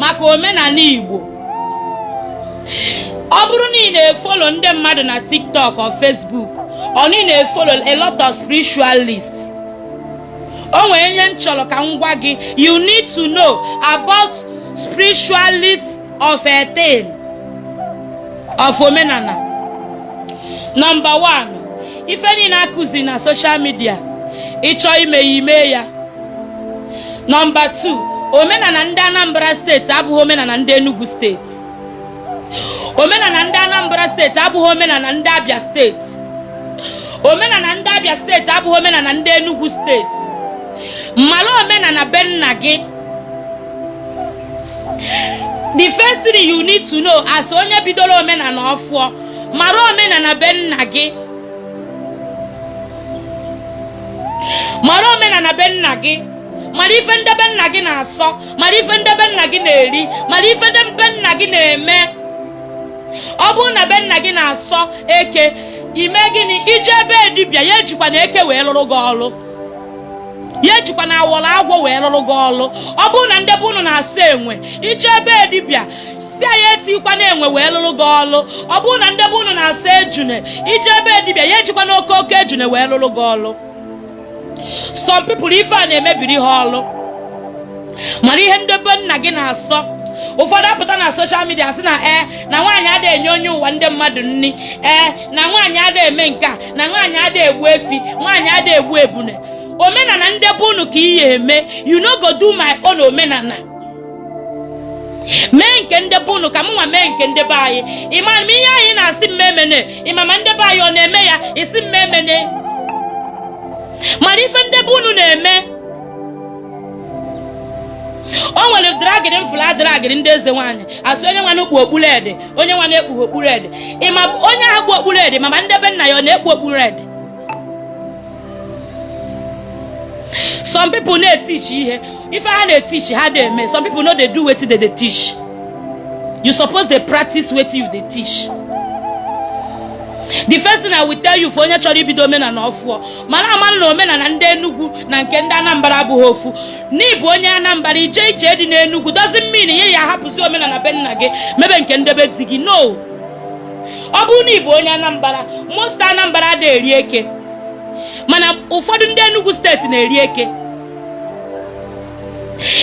maka omenala Igbo ọ bụrụ na ị na-efolo ndị mmadụ na TikTok or Facebook or na ị na-efolo a lot of spiritualists o nwere ihe m chọrọ ka m gwa gị you need to know about spiritualists of a thing of omenala number one ife niile a kụzi na social media ị chọ ime ya ime ya nọmba 2 omenala ndị Anambra steeti abụghị omenala ndị Enugu steeti omenala ndị Anambra steeti abụghị omenala ndị Abia steeti omenala ndị Abia steeti abụghị omenala ndị Enugu steeti mara omenala be nna gị the first thing you need to know as onye bidoro omenala ọfụọ mara omenala be nna gị mara omenala be nna gị mara ife ndị be nna gị na-asọ mara ife ndị be nna gị na-eri mara ife ndị be nna gị na-eme ọ bụrụ na be nna gị na-asọ eke i me gịnị i je ebe dibịa ya ejikwana eke wee lụrụ gị ọlụ ya ejikwana awọrọ agwọ wee lụrụ gị ọlụ ọ bụrụ na ndị be unu na-asọ enwe i je ebe dibịa sị nya ejikwana enwe wee lụrụ gị ọlụ ọ bụrụ na ndị be unu na-asọ ejune i je ebe dibịa ya ejikwana oke oke ejune wee lụrụ gị ọlụ some people ife a na-emebiri ha ọlụ mara ihe ndị be nna gị na-asọ ụfọdụ apụta na social media sị na ee na nwaanyị ada enye onye ụwa ndị mmadụ nni ee na nwaanyị ada eme nke a na nwaanyị ada egbu efi nwaanyị ada egbu ebune omenala ndị be unu ka ị ya-eme you no go do my own omenala mee nke ndị be unu ka mụnwa mee nke ndị be anyị ị ma ma ihe a ị na-asị m emene ị ma ma ndị be anyị ọ na-eme ya ị sị m emene mara ife ndị be unu na-eme o nwere dragịrị m fụlụ a dragịrị ndị eze nwaanyị a sị onye nwanụ kpu okpu red onye nwanụ ekpughị okpu red ị ma onye ahụ kpu okpu red ma ma ndị be nna ya ọ na-ekpu okpu red some people na-teach ihe ife ha na-teach ha ada eme some people no dey do wetin dem dey teach you suppose dey practice wetin you dey teach the first thing i will tell you for onye chọrọ ibido omenala ọfụọ mara amara na omenala ndị enugwu na nke ndị anambra abụghị ofu na ị bụ onye anambra i je ije di n'enugwu doesn't mean na ị ya-ahapụzi omenala be nna gị mebe nke ndị be di gị no ọ bụrụ na ị bụ onye anambra most anambra adịghị eri eke mana ụfọdụ ndị Enugu steeti na-eri eke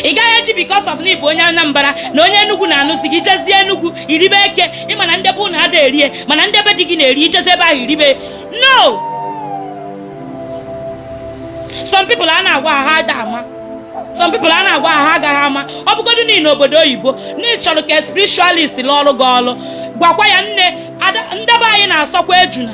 ị gaghị eji because of n'ịbụ onye Anambra na onye Enugu na-anụzi gị jezie Enugu iribe eke ịma na ndị be ụnụ ada erie mana ndị be di gị na-eri ijezi ebe ahụ iribe no some people a na-agwa ha ada ama some people a na-agwa ha agaghị ama ọ bụgodu n'ịnọ obodo oyibo n'ịchọrọ ka spiritualist lụọrọ gị ọrụ gwakwa ya na ndị be anyị na-asọkwa ejuna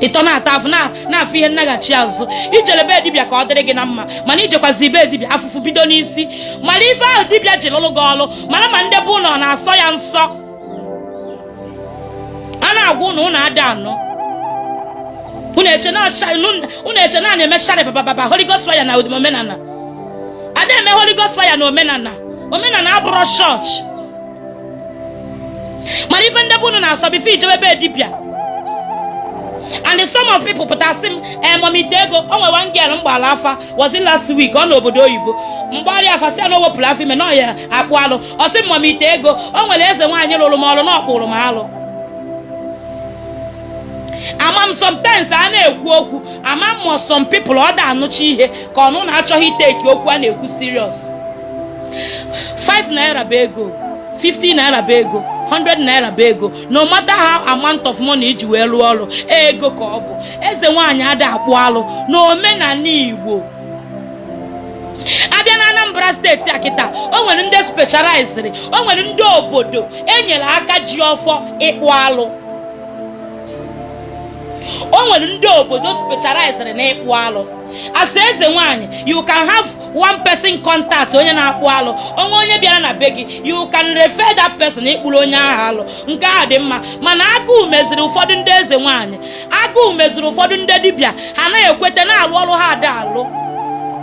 ịtọ na-ata afụ na-afụ ihe nnaghachi azụ ijele be dibịa ka ọ dịrị gị na mma mana ijekwazi be dibịa afụfụ bido n'isi mara ife ahụ dibịa ji lụrụ gị ọlụ mara ma ndị be ụnụ na-asọ ya nsọ a na-agwa ụnụ ụnụ ada anụ unu eche na a na-eme shari babababa Holy Ghost fire na omenala ada eme Holy Ghost fire na omenala omenala abụrọ chọọchị mara ife ndị be unu na-asọ before ijebe be dibịa and some of people pụta sị m mommy ite ego o nwe one girl m gbara afa was it last week ọ nọ obodo oyibo m gbara ya afa sị na o wepụrụ afọ ime na ọ ya-akpụ alụ ọ sị m mommy ite ego o nwere eze nwaanyị lụrụ m ọrụ na ọ kpụrụ m alụ ama m sometimes a na-ekwu okwu ama m some people ọ da anụcha ihe ka ọ bụ na achọghị iteki okwu a na-ekwu serious 5 naira bụ ego 50 naira bụ ego 100 naira bụ ego no matter how amount of money iji wee rụọ ọrụ ego ka ọ bụ eze nwaanyị ada akpụ alụ n'omenala igbo abịa na anambra steeti a kịta o nwere ndị specializiri o nwere ndị obodo enyere aka ji ọfọ ịkpụ alụ o nwere ndị obodo specializiri na ịkpụ alụ as eze nwanyị you can have one person contact onye na-akpụ alụ o nwee onye bịara na be gị you can refer that person ịkpụrụ onye ahụ alụ nke a dị mma mana agụụ meziri ụfọdụ ndị eze nwanyị agụụ meziri ụfọdụ ndị dibịa ha na-ekwete na-alụ ọrụ ha ada alụ